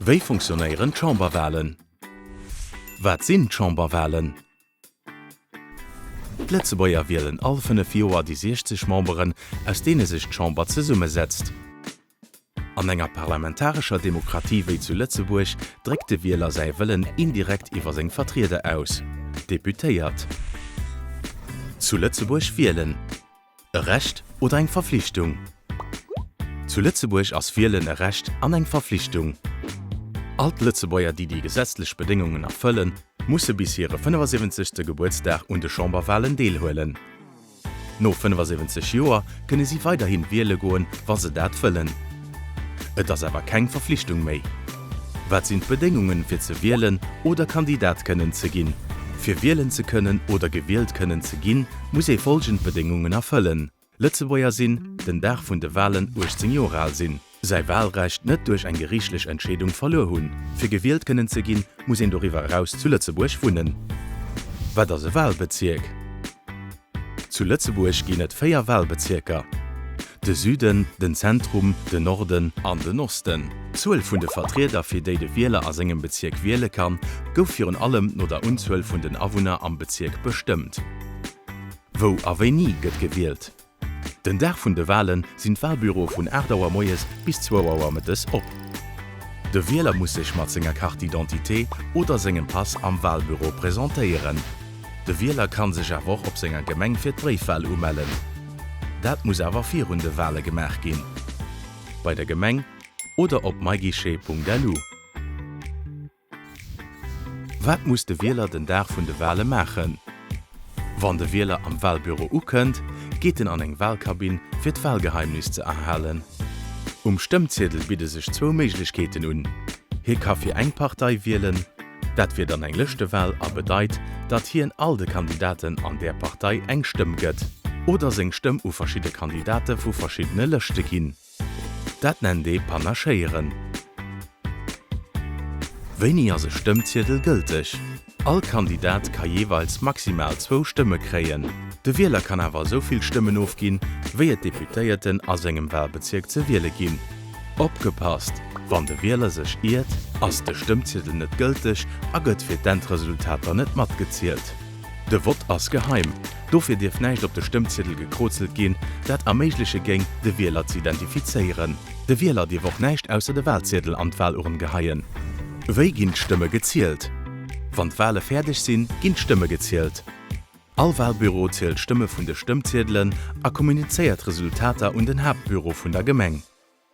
Wéi funktionéieren d'Chamberwalen? Wat sinn d'Chamberwalen? D'Lëtzebuerger wielen all 5 Joer déi 60 Memberen, aus deene sech d'Chamber zesummesetzt. An enger parlamentarescher Demokratie wéi zu Lëtzebuerg dréckt de Wieler säi Wëllen indirekt iwwer seng Vertrieder aus, d'Deputéiert. Zu Lëtzebuerg wielen. E Recht oder eng Verflichtung? Zu Lëtzebuerg ass Wielen e Recht an eng Verflichtung. All d'Lëtzebuerger, déi déi gesetzlech Bedéngungen erfëllen, musse bis hire 75. Gebuertsdag un de Chamberwalen deelhuelen. No 75 Joer kënne si weiderhi wiele goen, wa se dat wëllen. Et ass awer keng Verflichtung méi. Wat sinn d'Bedéngungen fir ze wielen oder Kandidat kënnen ze ginn? Fir wielen ze kënnen oder gewielt kënnen ze ginn, muss ee folgend Bedéngungen erfëllen, Lëtzebuerger sinn, den Dag vun de Walen 18 Joer al sinn, säi Walrecht net duerch eng geriichtlech Entscheedung verluer hunn. Fir gewielt kënnen ze ginn, muss een doriwwer eraus zu Lëtzebuerg wunnen. Wat ass e Walbezierk? Zu Lëtzebuerg ginn et véier Walbezierker, de Süden, den Zentrum, den Norden an den Osten. D'Zuel vun de Vertrieder, fir déi de Wieler a sengem Bezierk wiele kann, gouf virun allem no der Unzuel vun den Awunner am Bezierk bestëmmt. Wou a wéini gëtt gewielt? Den Dag vun de Wale sinn d'Walbüroe vun 8 Auer moies bis 2 Auer mëttes op. De Wieler muss sech mat senger Carte d'identité oder sengem Pass am Walbüro presentéieren. De Wieler kann sech awer och op senger Gemeng fir d'Bréifwal umellen. Dat muss awer virun de Wale gemaach ginn, bei der Gemeng oder op myguichet.lu. Wat muss de Wieler den Dag vun de Wale maachen? Wann de Wieler am Walbüro ukënnt, geet en an eng Walkabinn, fir d'Walgeheimnis ze erhalen. Um Stëmmziedel bidde sech zwou Méiglechkeeten un, Hie ka fir eng Partei wielen. Dat wier dann eng Lëschtewal a bedeit, datt hien all de Kandidaten an där Partei eng Stëmm gëtt oder seng Stëmm u verschidde Kandidate vu verschiddene Lëschte ginn. Dat nennt ee Panachéieren. Wéini ass e Stëmmziedel gëlteg? All Kandidat ka jeeweils maximal zwou Stëmme kréien. De Wieler kann awer esou vill Stëmmen ofginn, wéi et Deputéierten a sengem Walbezierk ze wiele ginn. Opgepasst, Wann de Wieler sech iert, ass de Stëmmziedel net gëlteg a gëtt fir d'Endresultater net matgezielt. De Vott ass geheim, dofir dierf näischt op de Stëmmziedel gekrozelt ginn, dat erméigleche géing, de Wieler ze identifizéieren. De Wieler dierf och näischt ausser de Walziedel an d'Walurn geheien. Wéi ginn d'Stëmme gezielt? Wann d'Wale fäerdeg sinn, ginn d'Stëmme gezielt. All Walbüro zielt d'Stëmme vun de Stëmmziedelen a kommunizéiert d'Resultater un den Haaptbüro vun der Gemeng.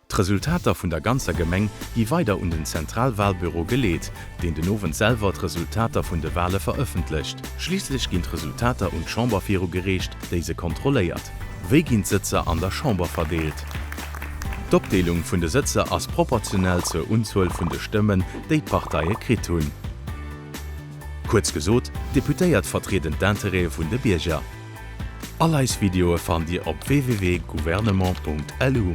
D'Resultater vun der ganzer Gemeng gi weider un den Zentralwalbüro geleet, deen den Owend selwer d'Resultater vun de Wale verëffentlecht. Schliisslech ginn d'Resultater un d'Chamber viru gereecht, déi se kontrolléiert. Wéi ginn d'Sëtzer an der Chamber verdeelt? D'Opdeelung vun de Sëtzer ass proportionell zur Unzuel vun de Stëmmen, déi d'Parteie kritt hunn. Kuerz gesot, d'Deputéiert vertrieden d'Intérêtë vun de Bierger. All eis Videoe fannt Dir op www.gouvernement.lu.